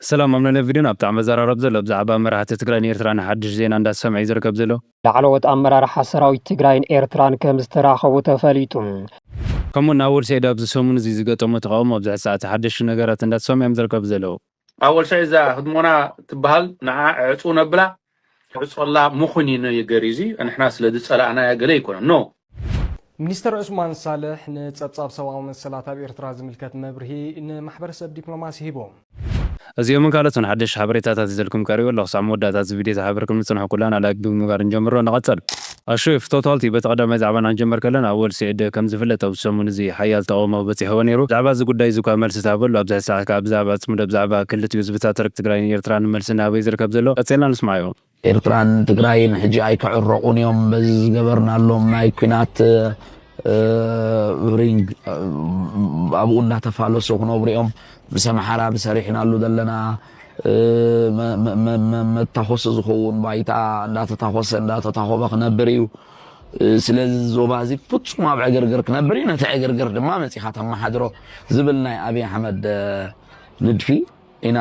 ሰላም ኣምነ ነቪድን ኣብቲ ኣመዘራረብ ዘሎ ብዛዕባ መራሕቲ ትግራይን ኤርትራን ሓድሽ ዜና እንዳተሰምዐ ዩ ዝርከብ ዘሎ። ላዕለዎት ኣመራርሓ ሰራዊት ትግራይን ኤርትራን ከምዝተራኸቡ ተፈሊጡ። ከምኡ ውን ኣወል ሰይድ ኣብዚ ሰሙን እዚ ዝገጠሞ ተቓውሞ ኣብ ዝሕዚ ሰዓት ሓደሽቲ ነገራት እንዳተሰምዑ ዮም ዝርከቡ ዘለዉ። ኣወል ሰይድ እዛ ህድሞና ትበሃል ንዓ ዕጽው ነብላ ሕጾላ ምኹን ኢዩ ነገሪ እዚ ንሕና ስለ ዝጸላእናያ ገለ ኣይኮነን ኖ። ሚኒስተር ዑስማን ሳልሕ ንጸብጻብ ሰብኣዊ መሰላት ኣብ ኤርትራ ዝምልከት መብርሂ ንማሕበረሰብ ዲፕሎማሲ ሂቡ። እዚኦምን ካልኦትን ሓደሽቲ ሓበሬታታት ሒዘልኩም ቀሪበ ኣለኹ። ክሳዕ መወዳእታ እዚ ቪድዮ ተሓባቢርኩም ንጽንሑ ኩልና ላይክ ብምግባር ንጀምሮ። ንቐጽል! ኣሹ ኢፍ ቶታልቲ በቲ ቀዳማይ ዛዕባ ናንጀምር ከለና ኣወል ሲዒድ ከም ዝፍለጥ ኣብዚ ሰሙን እዚ ሓያል ተቐውሞ በጺሕዎ ነይሩ ብዛዕባ እዚ ጉዳይ እዚ እኳ መልሲ ትሃበሉ ኣብዚ ሕዚ ሰዓት ከኣ ብዛዕባ ኣጽምዶ ብዛዕባ ክልቲኡ ህዝብታት ትርክ ትግራይን ኤርትራን መልሲ እናሃበ እዩ ዝርከብ ዘሎ ቀጺልና ንስማዕዮ። ኤርትራን ትግራይን ሕጂ ኣይክዕረቑን እዮም በዚ ዝገበርናሎም ናይ ኩናት ሪንግ ኣብኡ እንዳተፋለሱ ክነብሩ እዮም ምስ ኣምሓራ ብሰሪሕናሉ ዘለና መታኾሲ ዝኸውን ባይታ እንዳተታኾሰ እንዳተታኾበ ክነብር እዩ። ስለዚ እዚ ዞባ እዚ ፍፁም ኣብ ዕግርግር ክነብር እዩ። ነቲ ዕግርግር ድማ መፂኻ ተመሓድሮ ዝብል ናይ ኣብይ ኣሕመድ ንድፊ ኢና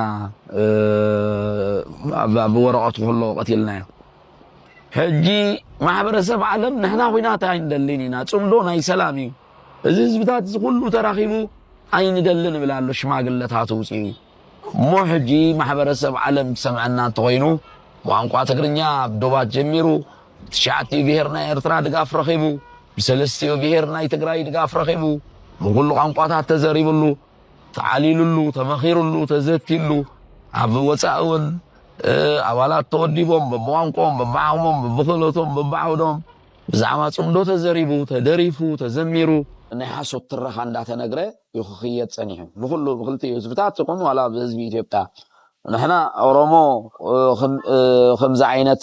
ኣብ ወረቐቱ ከሎ ቀቲልናዮ። ሕጂ ማሕበረሰብ ዓለም ንሕና ኩናት ኣይንደልን ኢና፣ ፅምዶ ናይ ሰላም እዩ፣ እዚ ህዝብታት እዚ ኩሉ ተራኺቡ ኣይንደልን ይብል ኣሎ ሽማግለታት ውፅኡ እሞ ሕጂ ማሕበረሰብ ዓለም ክሰምዐና እንተኾይኑ ቋንቋ ትግርኛ ኣብ ዶባት ጀሚሩ ብትሽዓቲኡ ብሄር ናይ ኤርትራ ድጋፍ ረኺቡ ብሰለስቲኡ ብሄር ናይ ትግራይ ድጋፍ ረኺቡ ብኹሉ ቋንቋታት ተዘሪብሉ ተዓሊሉሉ ተመኺሩሉ ተዘትዩሉ ኣብ ወፃኢ እውን ኣባላት ተወዲቦም በብቋንቆም በብዓቕሞም በብክእለቶም በብዓውዶም ብዛዕባ ፅምዶ ተዘሪቡ ተደሪፉ ተዘሚሩ ናይ ሓሶት ትረኻ እንዳተነግረ ዩ ክክየድ ጸኒሑ ብኩሉ ብክልቲኡ ህዝብታት ይኩን ዋላ ብህዝቢ ኢትዮጵያ ንሕና ኦሮሞ ከምዚ ዓይነት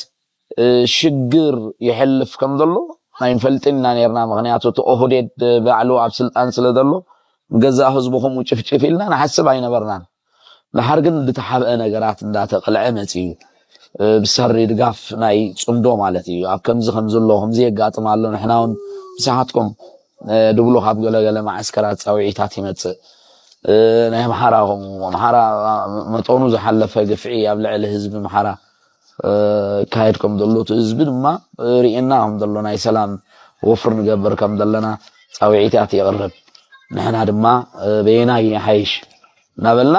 ሽግር ይሕልፍ ከም ዘሎ ኣይንፈልጥን ኢና ኔርና ምክንያቱ እቲ ኦህዴድ ባዕሉ ኣብ ስልጣን ስለ ዘሎ ንገዛእ ህዝቡ ከምኡ ጭፍጭፍ ኢልና ንሓስብ ኣይነበርናን ደሓር ግን ብተሓብአ ነገራት እንዳተቅልዐ መጺኡ ብሰሪ ድጋፍ ናይ ጽምዶ ማለት እዩ ኣብ ከምዚ ከምዚ ኣሎ ከምዚ የጋጥም ኣሎ ንሕና ውን ምሳሓትኩም ድብሉ ካብ ገለ ገለ መዓስከራት ጻውዒታት ይመጽእ ናይ ኣምሓራ ከምኡ ኣምሓራ መጠኑ ዝሓለፈ ግፍዒ ኣብ ልዕሊ ህዝቢ ኣምሓራ ዝካየድ ከም ዘሎ እቲ ህዝቢ ድማ ሪኤና ከም ዘሎ ናይ ሰላም ወፍሪ ንገብር ከም ዘለና ፃውዒታት የቕርብ ንሕና ድማ በየናይ ይሓይሽ እናበልና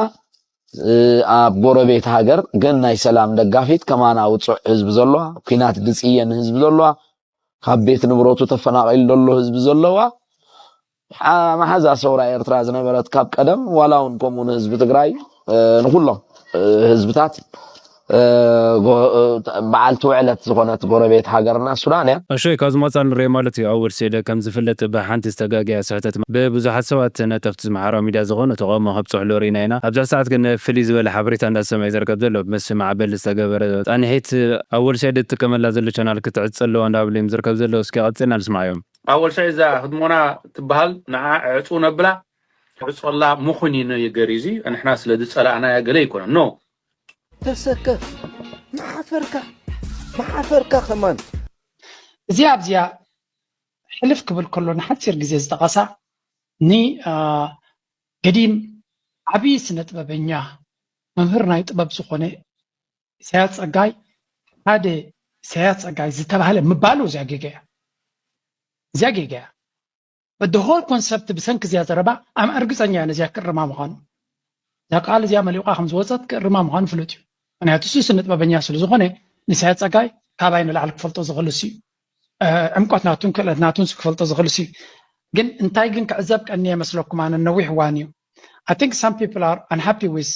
ኣብ ጎረቤት ሃገር ግን ናይ ሰላም ደጋፊት ከማና ውፁዕ ህዝቢ ዘለዋ ኩናት ድፅየን ህዝቢ ዘለዋ ካብ ቤት ንብረቱ ተፈናቒሉ ዘሎ ህዝቢ ዘለዋ መሓዛ ሰውራ ኤርትራ ዝነበረት ካብ ቀደም ዋላ ውን ከምኡ ንህዝቢ ትግራይ ንኩሎም ህዝብታት በዓልቲ ውዕለት ዝኾነት ጎረቤት ሃገርና ሱዳን እያ። ኣሸይ ካብ ዝመጻ ንሪኦ ማለት እዩ ኣወል ሴለ ከም ዝፍለጥ ብ ሓንቲ ዝተጋገያ ስሕተት ብ ብዙሓት ሰባት ነጠፍቲ ዝማሕራዊ ሚድያ ዝኾኑ ተቃውሞ ከብጽሕሉ ሪኢና ኢና ኣብዚ ሰዓት ግን ፍልይ ዝበለ ሓበሬታ እንዳ ዝሰምዐ ዝርከብ ዘሎ ብ ምስ ማዕበል ዝተገበረ ጻኒሒት ኣወል ሰይድ ዝጥቀመላ ዘሎ ቻናል ክትዕጸ ኣለዋ እንዳ በለ እዩም ዝርከብ ዘሎ እስኪ ቀጺልና ንስምዓዮም። ኣወል ሰዒድ እዛ ህድሞና ትበሃል ንዓ ዕዕፁ ነብላ ዕፆላ ምኹን እዩ ነገሪ እዚ ንሕና ስለ ዝፀላእናያ ገለ ኣይኮነን ኖ ተሰከፍ መሓፈርካ መሓፈርካ ከማን እዚኣ ኣብዚኣ ሕልፍ ክብል ከሎ ንሓፂር ግዜ ዝጠቐሳ ን ገዲም ዓብዪ ስነጥበበኛ መምህር ናይ ጥበብ ዝኾነ ኢሳያስ ጸጋይ ሓደ ኢሳያስ ጸጋይ ዝተባህለ ምባሉ እዚያ ጌጋ እያ እዚያ ጌጋ እያ በደ ሆል ኮንሰፕት ብሰንኪ እዚያ ዘረባ ኣም እርግፀኛ እያ ነዚያ ክእርማ ምዃኑ እዛ ቃል እዚያ መሊቋ ከም ዝወፀት ክእርማ ምዃኑ ፍሉጥ እዩ ምክንያቱ እሱ ስነ ጥበበኛ ስለ ዝኾነ ንኢሳያስ ጸጋይ ካባይ ንላዕሊ ክፈልጦ ዝኽእል እሱ እዩ ዕምቆት ናቱን ክእለት ናቱን ክፈልጦ ዝኽእል እሱ እዩ ግን እንታይ ግን ክዕዘብ ቀኒየ መስለኩም ኣነ ነዊሕ እዋን እዩ ኣይ ቲንክ ሳም ፒፕል ኣር ኣንሃፒ ዊዝ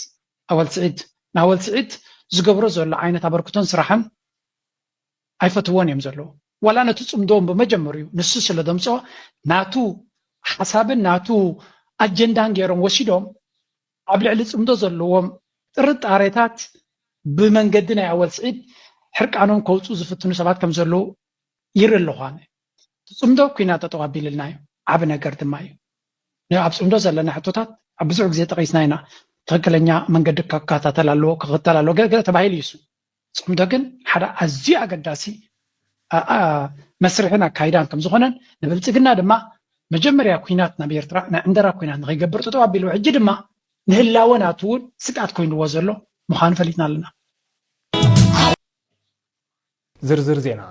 ኣወል ስዒድ ንኣወል ስዒድ ዝገብሮ ዘሎ ዓይነት ኣበርክቶን ስራሕን ኣይፈትዎን እዮም ዘለዉ ዋላ ነቲ ጽምዶኦም ብመጀመርኡ ንሱ ስለ ደምጾ ናቱ ሓሳብን ናቱ ኣጀንዳን ገይሮም ወሲዶም ኣብ ልዕሊ ጽምዶ ዘለዎም ጥርጣሬታት ብመንገዲ ናይ ኣወል ስዒድ ሕርቃኖም ከውፁ ዝፍትኑ ሰባት ከም ዘለዉ ይርኢ ኣለኹ ኣነ ትጽምዶ ኩናት ጠጠው ኣቢልልናዮ ዓቢ ነገር ድማ እዩ። ን ኣብ ጽምዶ ዘለና ሕቶታት ኣብ ብዙሕ ግዜ ጠቂስና ኢና ትክክለኛ መንገዲ ከካታተል ኣለዎ ክክተል ኣለዎ ገለ ገለ ተባሂሉ እዩ ጽምዶ ግን ሓደ ኣዝዩ ኣገዳሲ መስርሕን ኣካይዳን ከም ዝኾነን ንብልጽግና ድማ መጀመርያ ኩናት ናብ ኤርትራ ናይ ዕንደራ ኩናት ንኸይገብር ጠጠው ኣቢልዎ ሕጂ ድማ ንህላወ ናቱ እውን ስግኣት ኮይንዎ ዘሎ ምዃኑ ፈሊጥና ኣለና ዝርዝር ዜና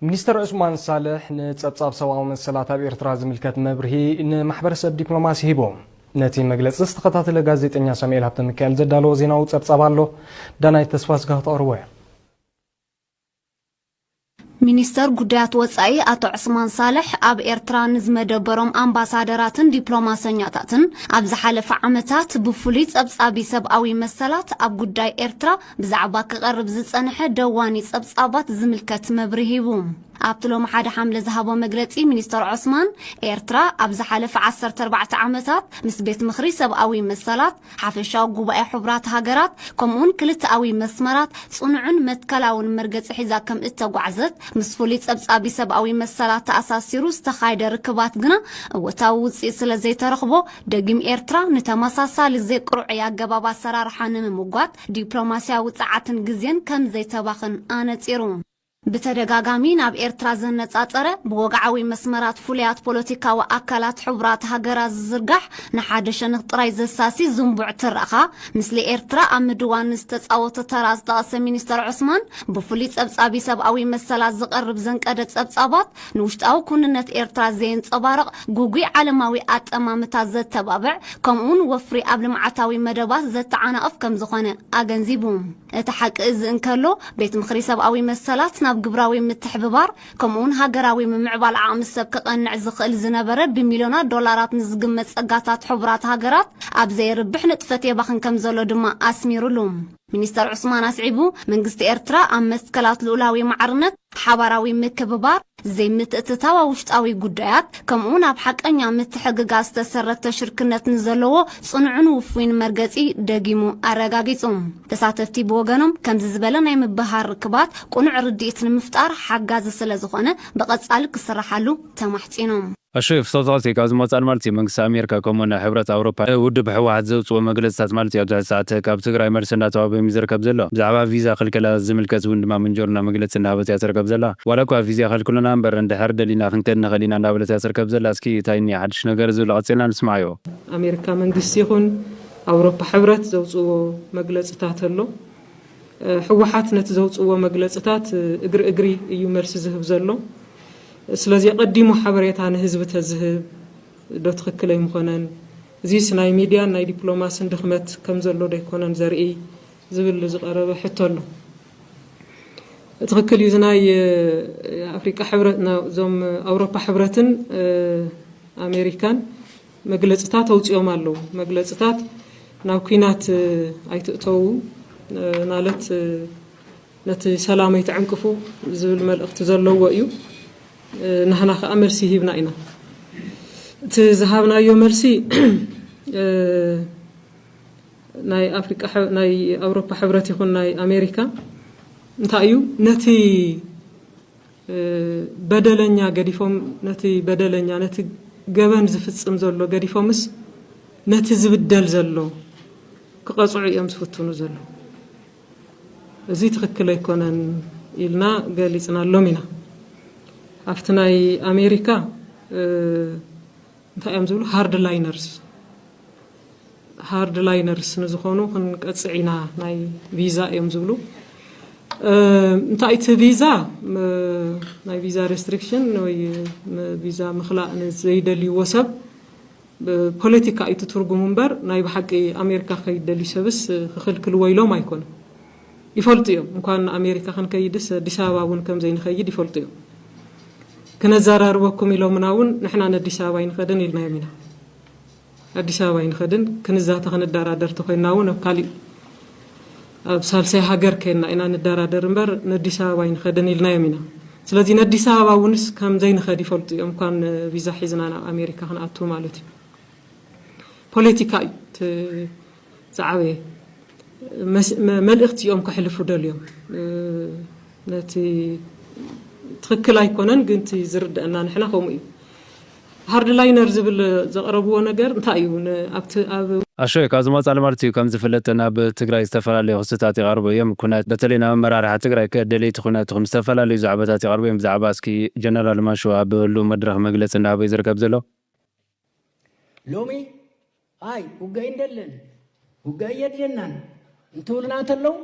ሚኒስተር ዑስማን ሳልሕ ንጸብጻብ ሰብኣዊ መሰላት ኣብ ኤርትራ ዝምልከት መብርሂ ንማሕበረሰብ ዲፕሎማሲ ሂቡ። ነቲ መግለጺ ዝተኸታተለ ጋዜጠኛ ሳሙኤል ሃብተሚካኤል ዘዳለዎ ዜናዊ ጸብጻብ ኣሎ። ዳናይት ተስፋስጋ ክተቕርቦ እያ። ሚኒስተር ጉዳያት ወጻኢ ኣቶ ዑስማን ሳልሕ ኣብ ኤርትራ ንዝመደበሮም ኣምባሳደራትን ዲፕሎማሰኛታትን ኣብ ዝሓለፈ ዓመታት ብፍሉይ ጸብጻቢ ሰብኣዊ መሰላት ኣብ ጉዳይ ኤርትራ ብዛዕባ ክቐርብ ዝጸንሐ ደዋኒ ጸብጻባት ዝምልከት መብርሂ ሂቡ። ኣብቲ ሎሚ ሓደ ሓምለ ዝሃቦ መግለጺ ሚኒስተር ዖስማን፣ ኤርትራ ኣብ ዝሓለፈ ዓሰርተ ኣርባዕተ ዓመታት ምስ ቤት ምኽሪ ሰብኣዊ መሰላት፣ ሓፈሻዊ ጉባኤ ሕቡራት ሃገራት ከምኡ'ውን ክልተኣዊ መስመራት ጽኑዕን መትከላውን መርገጺ ሒዛ ከም እተጓዕዘት ምስ ፍሉይ ጸብጻቢ ሰብኣዊ መሰላት ተኣሳሲሩ ዝተኻየደ ርክባት ግና እወታዊ ውጽኢት ስለዘይተረኽቦ ደጊም ኤርትራ ንተመሳሳሊ ዘይቅርዑይ ኣገባብ ኣሰራርሓ ንምምጓት ዲፕሎማስያዊ ጸዓትን ግዜን ከም ዘይተባኽን ኣነጺሩ። ብተደጋጋሚ ናብ ኤርትራ ዘነጻጸረ፣ ብወግዓዊ መስመራት ፍሉያት ፖለቲካዊ ኣካላት ሕቡራት ሃገራት ዝዝርጋሕ፣ ንሓደ ሸንኽ ጥራይ ዘሳሲ ዝንቡዕ ትረኻ፣ ምስሊ ኤርትራ ኣብ ምድዋን ዝተጻወቶ ተራ ዝጠቐሰ ሚኒስተር ዑስማን፣ ብፍሉይ ጸብጻቢ ሰብኣዊ መሰላት ዝቐርብ ዘንቀደ ጸብጻባት፣ ንውሽጣዊ ኩንነት ኤርትራ ዘየንጸባርቕ፣ ጉጉይ ዓለማዊ ኣጠማምታ ዘተባብዕ፣ ከምኡ'ውን ወፍሪ ኣብ ልምዓታዊ መደባት ዘተዓናቕፍ ከም ዝኾነ ኣገንዚቡ። እቲ ሓቂ እዚ እንከሎ፣ ቤት ምኽሪ ሰብኣዊ መሰላት ናብ ግብራዊ ምትሕብባር፣ ከምኡ'ውን ሃገራዊ ምምዕባል ዓቕሚ ሰብ ከቐንዕ ዝኽእል ዝነበረ ብሚልዮናት ዶላራት ንዝግመት ጸጋታት ሕቡራት ሃገራት ኣብ ዘየርብሕ ንጥፈት የባኽን ከም ዘሎ ድማ ኣስሚሩሉ። ሚኒስተር ዑስማን ኣስዒቡ፣ መንግስቲ ኤርትራ ኣብ መትከላት ልኡላዊ ማዕርነት፣ ሓባራዊ ምክብባር፣ ዘይምትእትታው ኣብ ውሽጣዊ ጉዳያት፣ ከምኡ'ውን ኣብ ሓቀኛ ምትሕግጋዝ ዝተሰረተ ሽርክነት ንዘለዎ ጽኑዕን ውፉይን መርገጺ ደጊሙ ኣረጋጊጹ። ተሳተፍቲ ብወገኖም፣ ከምዚ ዝበለ ናይ ምብህሃር ርክባት ቅኑዕ ርድኢት ንምፍጣር ሓጋዚ ስለዝኾነ ብቐጻሊ ክስራሓሉ ተማሕጺኖም። ኣሹ የፍሰሶስ እዩ ካብዚ መውፃእን ማለት እዩ መንግስቲ ኣሜርካ ከምኡ ን ሕብረት ኣውሮፓ ን ውድብ ህወሓት ዘውፅእዎ መግለፅታት ማለት እዩ ኣብዚ ሕዚ ሰዓት ካብ ትግራይ መልሲ እንዳተዋህቦም እዩ ዝርከብ ዘሎ ብዛዕባ ቪዛ ክልከላ ዝምልከት እውን ድማ ምንጆርና መግለፂ እንዳሃበት እያ ትርከብ ዘላ ዋላ እኳ ቪዛ ይኸልክሉና እምበር እንድሕር ደሊና ክንከድ ንኽእል ኢና እንዳበለት እያ ትርከብ ዘላ እስኪ ታይ እኒኦ ሓዱሽ ነገር ዝብሉ ቀፂልና ንስምዓዮ። ኣሜርካ መንግስቲ ይኹን ኣውሮፓ ሕብረት ዘውፅእዎ መግለፅታት ኣሎ። ሕወሓት ነቲ ዘውፅእዎ መግለፅታት እግሪ እግሪ እዩ መልሲ ዝህብ ዘሎ ስለዚ ኣቐዲሙ ሓበሬታ ንህዝቢ ተዝህብ ዶ ትኽክል ኣይምኾነን? እዚስ ናይ ሚድያን ናይ ዲፕሎማስን ድኽመት ከምዘሎ ዶ ኣይኮነን ዘርኢ ዝብል ዝቐረበ ሕቶ ኣሎ። ትኽክል እዩ እዚ ናይ ኣፍሪቃ ሕብረት እዞም ኣውሮፓ ሕብረትን ኣሜሪካን መግለፅታት ኣውፂኦም ኣለው። መግለፅታት ናብ ኩናት ኣይትእተው ማለት ነቲ ሰላም ኣይትዕንቅፉ ዝብል መልእኽቲ ዘለዎ እዩ። ናህና ከዓ መልሲ ሂብና ኢና። እቲ ዝሃብናዮ መልሲ ናይ ኣፍሪቃ ናይ ኣውሮፓ ሕብረት ይኹን ናይ ኣሜሪካ እንታይ እዩ ነቲ በደለኛ ገዲፎም ነቲ በደለኛ ነቲ ገበን ዝፍጽም ዘሎ ገዲፎምስ ነቲ ዝብደል ዘሎ ክቐጽዑ እዮም ዝፍትኑ ዘለዉ። እዚ ትኽክል ኣይኮነን ኢልና ገሊጽናሎም ኢና። ኣብቲ ናይ ኣሜሪካ እንታይ እዮም ዝብሉ ሃርድ ላይነርስ ሃርድ ላይነርስ ንዝኾኑ ክንቀፅዕ ኢና ናይ ቪዛ እዮም ዝብሉ እንታይ እቲ ቪዛ ናይ ቪዛ ሬስትሪክሽን ወይ ቪዛ ምክላእ ንዘይደልይዎ ሰብ ፖለቲካ እዩ ትርጉሙ እምበር ናይ ብሓቂ ኣሜሪካ ከይደልዩ ሰብስ ክኽልክልዎ ኢሎም ኣይኮኑ ይፈልጡ እዮም እንኳን ኣሜሪካ ክንከይድስ ኣዲስ ኣበባ እውን ከምዘይንኸይድ ይፈልጡ እዮም ክነዛራርበኩም ኢሎምና እውን ንሕና ነዲስ ኣበባ ኣይንኸድን ኢልናዮም ኢና ኣዲስ ኣበባ ኣይንኸድን ክንዛተ ክንደራደር ተኮይንና እውን ኣብ ካሊእ ኣብ ሳልሳይ ሃገር ከይና ኢና ንደራደር እምበር ነዲስ ኣበባ ኣይንኸድን ኢልናዮም ኢና ስለዚ ነዲስ ኣበባ እውንስ ከም ዘይንኸድ ይፈልጡ እዮም እንኳን ቪዛ ሒዝና ናብ ኣሜሪካ ክንኣቱ ማለት እዩ ፖለቲካ እዩ ዝዓበየ መልእክቲ እዮም ከሕልፉ ደልዮም ነቲ ትክክል ኣይኮነን ግን እቲ ዝርደአና ንሕና ከምኡ እዩ ሃርድ ላይነር ዝብል ዘቅረብዎ ነገር እንታይ እዩ ኣብቲ ኣብ ኣሸይ ካብ ዝመጽኣ ልማድት እዩ ከምዝፍለጥ ናብ ትግራይ ዝተፈላለዩ ክስታት ይቀርቡ እዮም ኩነት በተለይ ናብ ኣመራርሓ ትግራይ ከ ደለይቲ ኩነት ኹም ዝተፈላለዩ ዛዕባታት ይቀርቡ እዮም ብዛዕባ እስኪ ጀነራል ማሾ ኣብ ህሉው መድረኽ መግለጺ እንዳሃበ እዩ ዝርከብ ዘሎ ሎሚ ኣይ ውጋይ እንደለን ውጋይ የድልየናን እንትብሉና እንተለዉ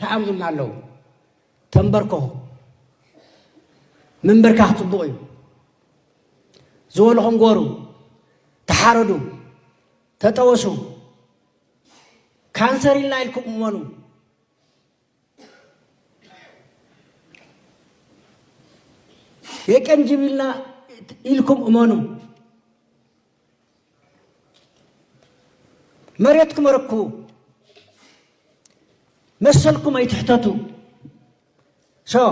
ተዓብዙና ኣለዉ ተንበርከኹ ምንብርካኽ ፅቡቕ እዩ ዝበልኹም ጎሩ ተሓረዱ ተጠወሱ ካንሰር ኢልና ኢልኩም እመኑ የቀንጅብልና ኢልኩም እመኑ መሬትኩም ኣረክቡ መሰልኩም ኣይትሕተቱ ሶ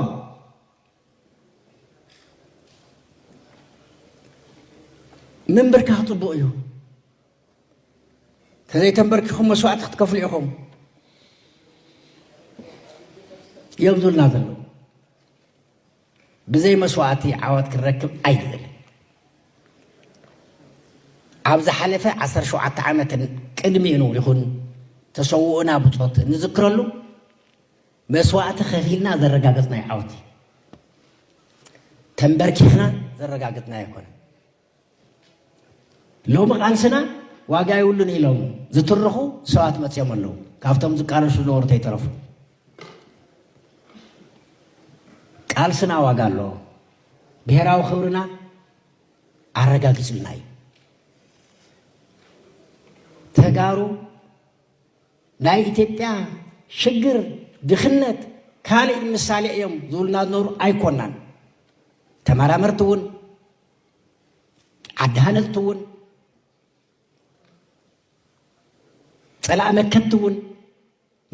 ምንብርካኽ ፅቡቕ እዩ ተዘይ ተምበርኪኹም መስዋእቲ ክትከፍሉ ኢኹም እዮም ዝብልና ዘለዉ ብዘይ መስዋእቲ ዓወት ክንረክብ ኣይንብል ኣብ ዝሓለፈ 17 ዓመትን ቅድሚኡን ይኹን ተሰውኡና ብፆት እንዝክረሉ መስዋእቲ ከፊልና ዘረጋገፅናዮ ዓወት እዩ ተንበርኪሕና ዘረጋገፅናዮ ኣይኮነ ሎሚ ቃልስና ዋጋ የብሉን ኢሎም ዝትርኹ ሰባት መፅዮም ኣለዉ ካብቶም ዝቃለሱ ዝነበሩ ተይተረፉ ቃልስና ዋጋ ኣለዎ ብሄራዊ ክብርና ኣረጋጊፅልና እዩ ተጋሩ ናይ ኢትዮጵያ ሽግር ድኽነት ካልእ ምሳሌ እዮም ዝብሉና ዝነበሩ ኣይኮናን ተመራመርቲ እውን ዓዲ ሃለልቲ እውን ፀላእ መከቲ እውን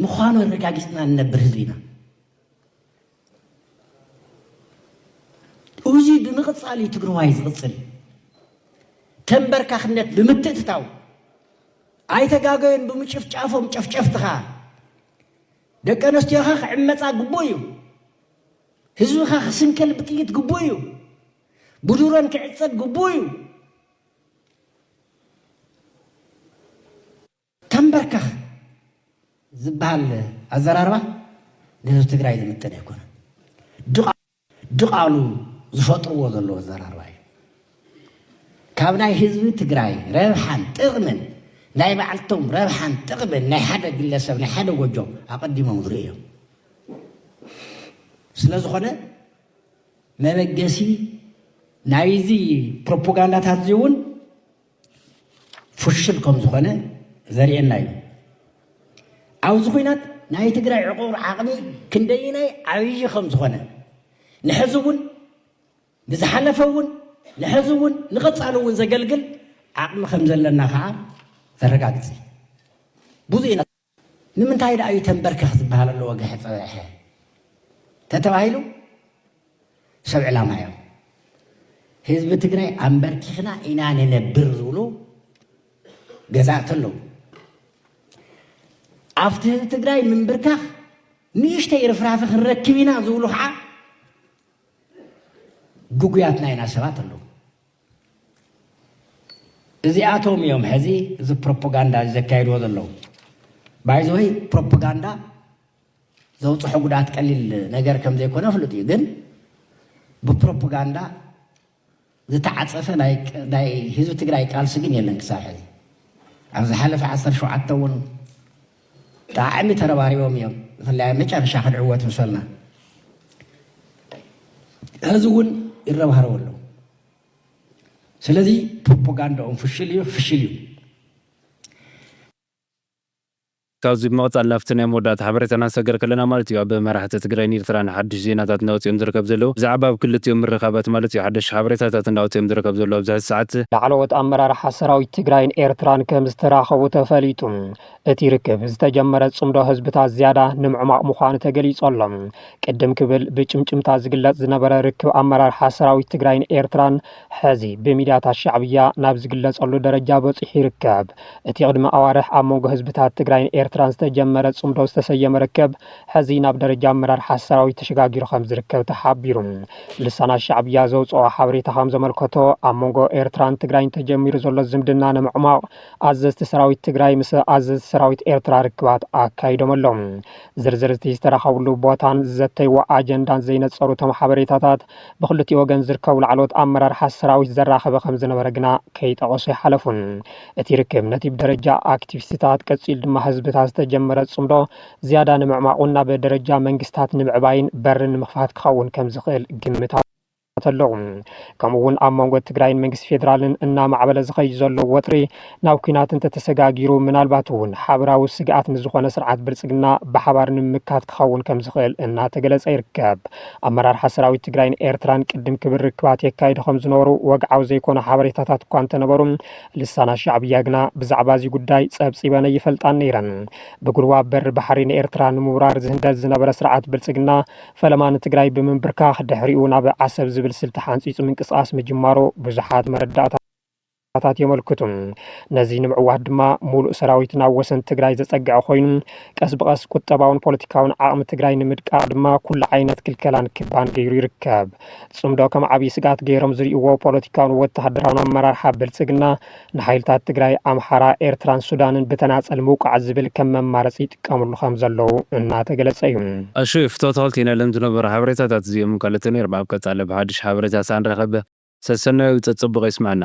ምዃኑ ኣረጋጊፅና ንነብር ህዝቢ ኢና እዚ ብምቕፃል እዩ ትግራዋይ ዝቕፅል ተንበርካኽነት ብምትእትታው ኣይተጋገዩን ብምጭፍጫፎም ጨፍጨፍትኻ ደቂ ኣነስትዮኻ ክዕመፃ ግቡእ እዩ ህዝብኻ ክስንከል ብጥይት ግቡእ እዩ ብድሮን ክዕጸድ ግቡእ እዩ። ተምበርከኽ ዝበሃል ኣዘራርባ ንህዝቢ ትግራይ ዝምጥን ኣይኮነን። ድቓሉ ዝፈጥርዎ ዘለዉ ኣዘራርባ እዩ። ካብ ናይ ህዝቢ ትግራይ ረብሓን ጥቕምን ናይ ባዕልቶም ረብሓን ጥቕምን ናይ ሓደ ግለሰብ ናይ ሓደ ጎጆ ኣቐዲሞም ዝርእዮም ስለ ዝኾነ መበገሲ ናይዚ ፕሮፖጋንዳታት እዚ እውን ፍሹል ከም ዝኾነ ዘርእየና እዩ። ኣብዚ ኩናት ናይ ትግራይ ዕቑር ዓቕሚ ክንደይናይ ዓብዪ ከም ዝኾነ ንሕዚ እውን ንዝሓለፈ እውን ንሕዚ እውን ንቐፃሊ እውን ዘገልግል ዓቕሚ ከም ዘለና ከዓ ዘረጋግፅ እዩ ብዙ ኢና ንምንታይ ደኣ እዩ ተንበርከኽ ዝበሃል ኣሎ ወግሐ ጸብሐ ተተባሂሉ ሰብ ዕላማ እዮም ህዝቢ ትግራይ ኣንበርኪኽና ኢና ንነብር ዝብሉ ገዛእቲ ኣለዉ ኣብቲ ህዝቢ ትግራይ ምንብርካኽ ንእሽተይ ርፍራፊ ክንረክብ ኢና ዝብሉ ከዓ ግጉያትና ኢና ሰባት ኣለዉ እዚኣቶም እዮም ሕዚ እዚ ፕሮፓጋንዳ ዘካይድዎ ዘለዉ። ባይዘወይ ፕሮፓጋንዳ ዘውፅሖ ጉድኣት ቀሊል ነገር ከም ዘይኮነ ፍሉጥ እዩ። ግን ብፕሮፓጋንዳ ዝተዓፀፈ ናይ ህዝቢ ትግራይ ቃልሲ ግን የለን ክሳብ ሕዚ ኣብ ዝሓለፈ ዓሰርተ ሸውዓተ እውን ብጣዕሚ ተረባሪቦም እዮም ብፍላይ ኣብ መጨረሻ ክንዕወት ምሰልና ሕዚ እውን ይረባረቡ ኣለዉ ስለዚ ፕሮፓጋንዳኦም ፍሽል እዩ ክፍሽል እዩ ካብዚ ብምቕጻል ናብቲ ናይ መወዳእታ ሓበሬታና ንሰገር ከለና ማለት እዩ ኣብ መራሕቲ ትግራይን ኤርትራን ሓድሽ ዜናታት እናወጽኦም ዝርከብ ዘለዉ ብዛዕባ ኣብ ክልቲኦም ምርኻባት ማለት እዩ ሓደሽቲ ሓበሬታታት እናወጽኦም ዝርከብ ዘለዉ ኣብዚ ሕዚ ሰዓት ላዕለዎት ኣመራርሓ ሰራዊት ትግራይን ኤርትራን ከምዝተራኸቡ ተፈሊጡ። እቲ ርክብ ዝተጀመረ ጽምዶ ህዝብታት ዝያዳ ንምዕማቕ ምዃኑ ተገሊጹ ኣሎ። ቅድም ክብል ብጭምጭምታ ዝግለጽ ዝነበረ ርክብ ኣመራርሓ ሰራዊት ትግራይን ኤርትራን ሕዚ ብሚድያታት ሻዕብያ ናብ ዝግለጸሉ ደረጃ በጺሑ ይርከብ። እቲ ቅድሚ ኣዋርሕ ኣብ መንጎ ህዝብታት ትግራይን ኤርትራን ዝተጀመረ ጽምዶ ዝተሰየመ ርክብ ሕዚ ናብ ደረጃ ኣመራርሓ ሰራዊት ተሸጋጊሩ ከምዝርከብ ተሓቢሩ። ልሳናት ሻዕብያ ዘውጽኦ ሓበሬታ ከምዘመልከቶ ኣብ መንጎ ኤርትራን ትግራይን ተጀሚሩ ዘሎ ዝምድና ንምዕሟቕ ኣዘዝቲ ሰራዊት ትግራይ ምስ ኣዘዝቲ ሰራዊት ኤርትራ ርክባት ኣካይዶም ኣለው። ዝርዝር እቲ ዝተራኸብሉ ቦታን ዝዘተይዎ ኣጀንዳን ዘይነፀሩ እቶም ሓበሬታታት ብክልቲኡ ወገን ዝርከቡ ላዕለዎት ኣመራርሓ ሰራዊት ዘራኸበ ከምዝነበረ ግና ከይጠቐሱ ኣይሓለፉን። እቲ ርክብ ነቲ ብደረጃ ኣክቲቪስትታት ቀፂሉ ድማ ህዝብታት ዝተጀመረ ፅምዶ ዝያዳ ንምዕማቑን ናብ ደረጃ መንግስታት ንምዕባይን በሪ ንምኽፋት ክኸውን ከምዝኽእል ግምታዊ ተሎ። ከምኡ እውን ኣብ መንጎ ትግራይን መንግስቲ ፌዴራልን እናማዕበለ ዝኸይድ ዘሎ ወጥሪ ናብ ኩናት እንተተሰጋጊሩ ምናልባት እውን ሓበራዊ ስግኣት ንዝኾነ ስርዓት ብልፅግና ብሓባር ንምምካት ክኸውን ከም ዝኽእል እናተገለፀ ይርከብ። ኣመራርሓ ሰራዊት ትግራይን ኤርትራን ቅድም ክብል ርክባት የካይዱ ከም ዝነበሩ ወግዓዊ ዘይኮኑ ሓበሬታታት እኳ እንተነበሩ ልሳና ሻዕብያ ግና ብዛዕባ እዚ ጉዳይ ፀብፂበን ይፈልጣን ነይረን። ብጉልዋ በሪ ባሕሪ ንኤርትራ ንምውራር ዝህንደድ ዝነበረ ስርዓት ብልፅግና ፈለማ ንትግራይ ብምንብርካኽ ድሕሪኡ ናብ ዓሰብ ዝብል ስልቲ ሓንፂፁ ምንቅስቓስ ምጅማሩ ብዙሓት መረዳእታ ታት የመልክቱ። ነዚ ንምዕዋት ድማ ሙሉእ ሰራዊት ናብ ወሰን ትግራይ ዘፀግዐ ኮይኑ ቀስ ብቐስ ቁጠባውን ፖለቲካውን ዓቕሚ ትግራይ ንምድቃቕ ድማ ኩሉ ዓይነት ክልከላን ክባን ገይሩ ይርከብ። ፅምዶ ከም ዓብዪ ስግኣት ገይሮም ዝሪኡዎ ፖለቲካውን ወታደራውን ኣመራርሓ ብልፅግና ንሓይልታት ትግራይ፣ ኣምሓራ፣ ኤርትራን ሱዳንን ብተናፀል ምውቃዕ ዝብል ከም መማረፂ ይጥቀምሉ ከም ዘለዉ እናተገለፀ እዩ። ኣሹ ፍቶ ተክልቲ ነለም ዝነበሩ ሓበሬታታት እዚኦምን ካልኦትን ይርብ ኣብ ቀጻሊ ብሓድሽ ሓበሬታ ሳንረከብ ሰሰናዩ ጸጸቡቅ የስመዐና።